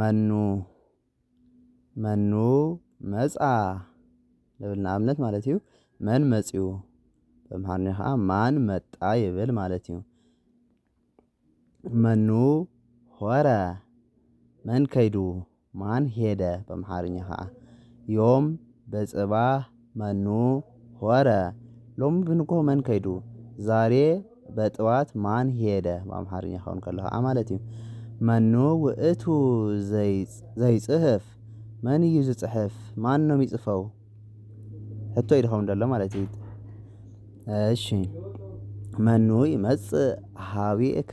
መኑ መኑ መጽአ ንብል ንኣብነት ማለት እዩ መን መጺኡ በምሓርኛ ከኣ ማን መጣ ይብል ማለት እዩ። መኑ ሆረ መን ከይዱ ማን ሄደ በምሓርኛ ከኣ ዮም በጽባህ መኑ ሆረ ሎሚ ብንግሆ መን ከይዱ ዛሬ በጥዋት ማን ሄደ ብኣምሓርኛ ክኸውን ከሎ ኸኣ ማለት እዩ። መኑ ውእቱ ዘይጽህፍ መን እዩ ዝጽሕፍ ማን ነው የሚጽፈው ሕቶ እዩ ድኸውን ዘሎ ማለት እዩ። እሺ መኑ ይመጽእ ሀቤከ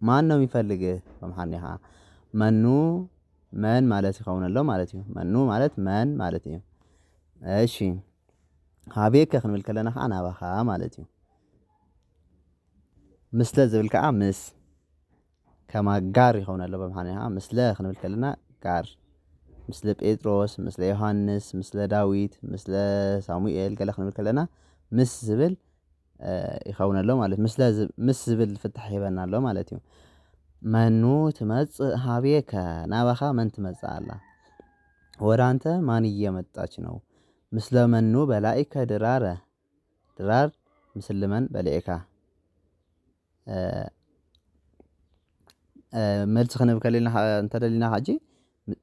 ማን ነው የሚፈልግህ በምሓርኛ ከኣ መኑ መን ማለት ይኸውን ኣሎ ማለት እዩ መኑ ማለት መን ማለት እዩ። እሺ ሃቤከ ክንብል ከለና ከኣ ናባኻ ማለት እዩ። ምስለ ዝብል ከኣ ምስ ከማ ጋር ይኸውን ኣሎ በምሓርኛ ከኣ ምስለ ክንብል ከለና ጋር ምስለ ጴጥሮስ ምስለ ዮሐንስ ምስለ ዳዊት ምስለ ሳሙኤል ገለ ክንብል ከለና ምስ ዝብል ይኸውን ኣሎ ማለት እዩ። ምስለ ምስ ዝብል ፍታሕ ይህበና ኣሎ ማለት እዩ። መኑ ትመጽእ ሀቤከ ናባኻ መን ትመጽእ ኣላ? ወደ ኣንተ ማን እየመጣች ነው? ምስለ መኑ በላኢከ ድራረ ድራር ምስለ መን በልዔካ? መልሲ ክንብል እንተደሊና ሀጂ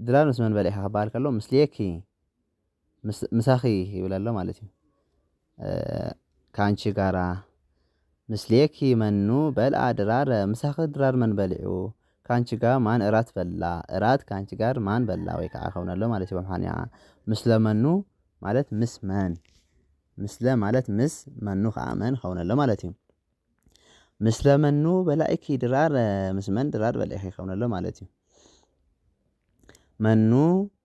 ድራር ምስ መን በሊዕኻ ክበሃል ከሎ ምስሌኪ። ምሳኺ ይብል ኣሎ ማለት እዩ። ካንቺ ጋራ ምስሌኪ መኑ በልኣ ድራር ምሳኺ ድራር መን በሊዑ ካንቺ ጋር ማን እራት በላ እራት ካንቺ ጋር ማን በላ ወይ ከዓ ከውነ ኣሎ ማለት ይበል ሃንያ ምስለ መኑ ማለት ምስ መን ምስለ ማለት ምስ መኑ ከኣ መን ከውነ ኣሎ ማለት እዩ። ምስለ መኑ በላይኪ ድራር ምስ መን ድራር በላይኪ ከውነ ኣሎ ማለት እዩ። መኑ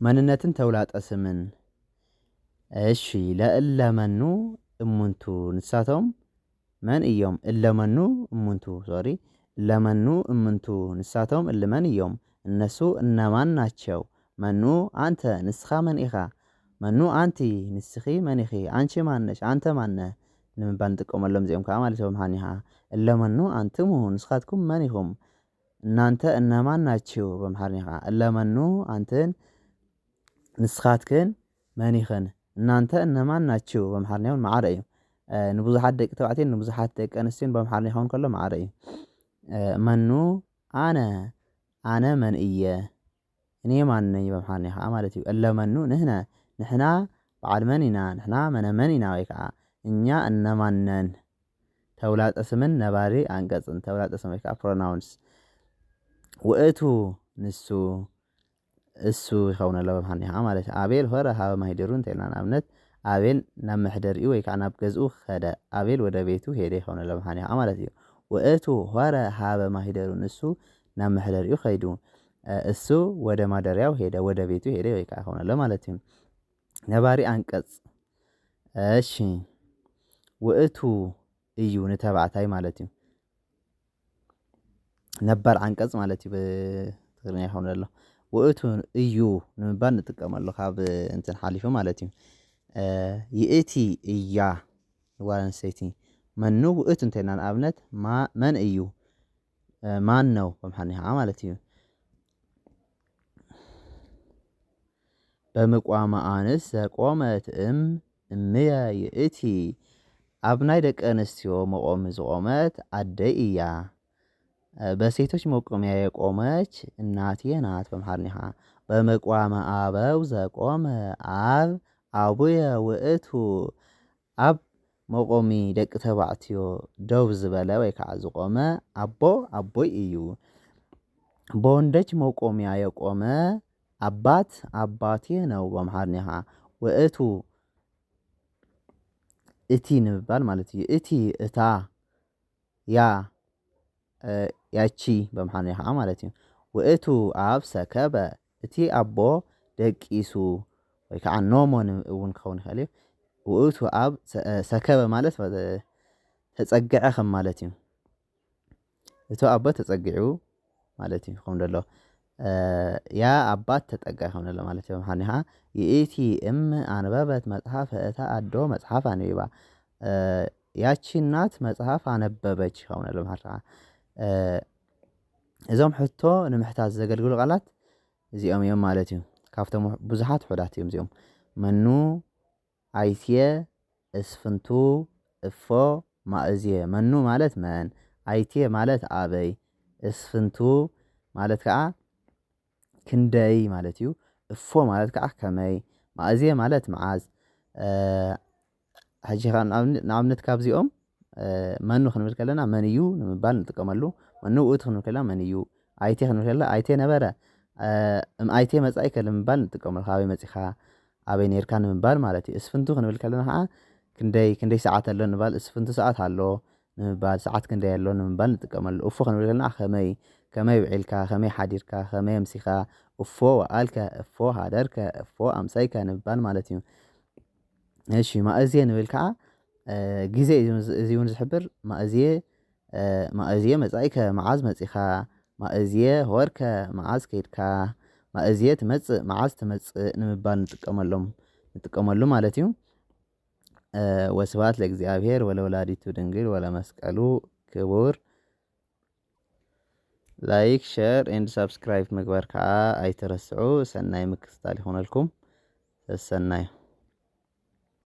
መንነትን ተውላጠ ስምን እሺ ለእለ መኑ እሙንቱ ንሳቶም መን እዮም እለመኑ እሙንቱ ሶሪ እለመኑ እምንቱ ንሳቶም እልመን እዮም እነሱ እነማን ናቸው? መኑ አንተ ንስኻ መን ኢኻ? መኑ አንቲ ንስኺ መን ኢኺ? አንቺ ማን ነሽ? አንተ ማን ነህ? ንምባል ንጥቀመሎም እዚኦም ከኣ ማለት እዮም ሃኒሃ እለመኑ አንትሙ ንስኻትኩም መን ኢኹም? እናንተ እነማን ናችሁ በምሓርኛ ከኣ እለመኑ ኣንትን ንስኻትክን መን ኢኽን እናንተ እነማን ናችሁ በምሓርኛ ውን መዓረ እዩ ንብዙሓት ደቂ ተባዕትዮን ንብዙሓት ደቂ ኣንስትዮን በምሓርኛ ክኸውን ከሎ መዓረ እዩ መኑ ኣነ ኣነ መንእየ እኔ ማን ነኝ በምሓርኛ ከኣ ማለት እዩ እለ መኑ ንሕነ ንሕና በዓል መን ኢና ንሕና መነመን ኢና ወይ ከኣ እኛ እነማን ነን ተውላጠ ስምን ነባሪ ኣንቀጽን ተውላጠ ስም ወይ ከኣ pronouns ውእቱ ንሱ እሱ ይኸውን ኣሎ በምሓርኛ ከኣ ማለት እዩ ኣቤል ሆረ ሃበ ማሂደሩ እንተ ኢልና ንኣብነት ኣቤል ናብ መሕደሪኡ ወይ ከኣ ናብ ገዝኡ ከደ ኣቤል ወደ ቤቱ ሄደ ይኸውን ኣሎ በምሓርኛ ከኣ ማለት እዩ ውእቱ ሆረ ሃበ ማሂደሩ ንሱ ናብ መሕደሪኡ ከይዱ እሱ ወደ ማደሪያው ሄደ ወደ ቤቱ ሄደ ወይ ከኣ ሆነ ለማለት እዩ። ነባሪ ኣንቀጽ እሺ ውእቱ እዩ ንተባዕታይ ማለት እዩ። ነባር ዓንቀጽ ማለት እዩ ብትግርኛ ይኸውን ዘሎ ውእቱ እዩ ንምባል ንጥቀመሉ ካብ እንትን ሓሊፉ ማለት እዩ። ይእቲ እያ ንጓል ኣንስተይቲ መኑ ውእቱ እንተይልና ንኣብነት መን እዩ? ማነው በምሓንኛ ከዓ ማለት እዩ። በምቋም ኣንስ ዘቆመት እም እምየ ይእቲ ኣብ ናይ ደቂ ኣንስትዮ መቆሚ ዝቆመት ኣደ እያ። በሴቶች መቆሚያ የቆመች እናቴ ናት በምሓርኛ ከዓ በምቋም ኣበው ዘቆመ ኣብ ኣቡየ ውእቱ። ኣብ መቆሚ ደቂ ተባዕትዮ ደው ዝበለ ወይ ካዓ ዝቆመ ኣቦ ኣቦይ እዩ። በወንዶች መቆሚያ የቆመ ኣባት ኣባቴ ነው በኣምሓርኛ ካዓ ወእቱ እቲ ንምባል ማለት እዩ እቲ እታ ያ ያቺ በምኃንያ ኸኣ ማለት እዩ። ውእቱ አብ ሰከበ፣ እቲ ኣቦ ደቂሱ ወይ ከዓ ኖሞ እውን ክኸውን ይኸእል እዩ። ውእቱ ኣብ ሰከበ ማለት ተጸግዐ ከም ማለት እዩ። እቲ ኣቦ ተጸጊዑ ማለት እዩ ክኸውን ደሎ። ያ ኣባት ተጠጋይ ሆነለ ማለት እዮም ሓኒኻ ይእቲ እም ኣንበበት መጽሐፍ እታ ኣዶ መጽሐፍ ኣንቢባ ያቺ እናት መጽሐፍ ኣነበበች ይኸውንለ ማለት ነው። እዞም ሕቶ ንምሕታት ዘገልግሉ ቃላት እዚኦም እዮም ማለት እዩ ካብቶም ብዙሓት ሑዳት እዮም እዚኦም መኑ ኣይትየ እስፍንቱ እፎ ማእዝየ መኑ ማለት መን፣ ኣይትየ ማለት ኣበይ፣ እስፍንቱ ማለት ከኣ ክንደይ ማለት እዩ፣ እፎ ማለት ከኣ ከመይ፣ ማእዝየ ማለት መዓዝ፣ ሕጂ ከኣ ንኣብነት ካብዚኦም መኑ ክንብል ከለና መን እዩ ንምባል ንጥቀመሉ መኑ ውእቱ ክንብል ከለና መን እዩ ኣይተ ክንብል ከለና ኣይተ ነበረ እም ኣይተ መጻኢከ ንምባል ንጥቀመሉ ካበይ መጺኻ ኣበይ ኔርካ ንምባል ማለት እዩ። እስፍንቱ ክንብል ከለና ኸኣ ክንደይ ክንደይ ሰዓት ኣሎ ንባል እስፍንቱ ሰዓት ኣሎ ንምባል ሰዓት ክንደይ ኣሎ ንምባል ንጥቀመሉ። እፎ ክንብል ከለና ከመይ ከመይ ውዒልካ ከመይ ሓዲርካ ከመይ ኣምሲኻ እፎ ወኣልከ እፎ ሃደርከ እፎ ኣምሰይከ ንምባል ማለት እዩ። እሺ ማእዝየ ንብል ከዓ ግዜ እዩ እዚ እውን ዝሕብር ማእዝየ ማእዝየ መፃኢከ መዓዝ መፂኻ ማእዝየ ሆርከ መዓዝ ከይድካ ማእዝየ ትመፅእ መዓዝ ትመፅእ ንምባል ንጥቀመሎም ንጥቀመሉ ማለት እዩ። ወስብሃት ለእግዚኣብሄር ወለወላዲቱ ድንግል ወለመስቀሉ ክቡር ላይክ ሸር ኤንድ ሳብስክራይብ ምግባር ከዓ ኣይትረስዑ። ሰናይ ምክትታል ይኹነልኩም። ሰሰናዩ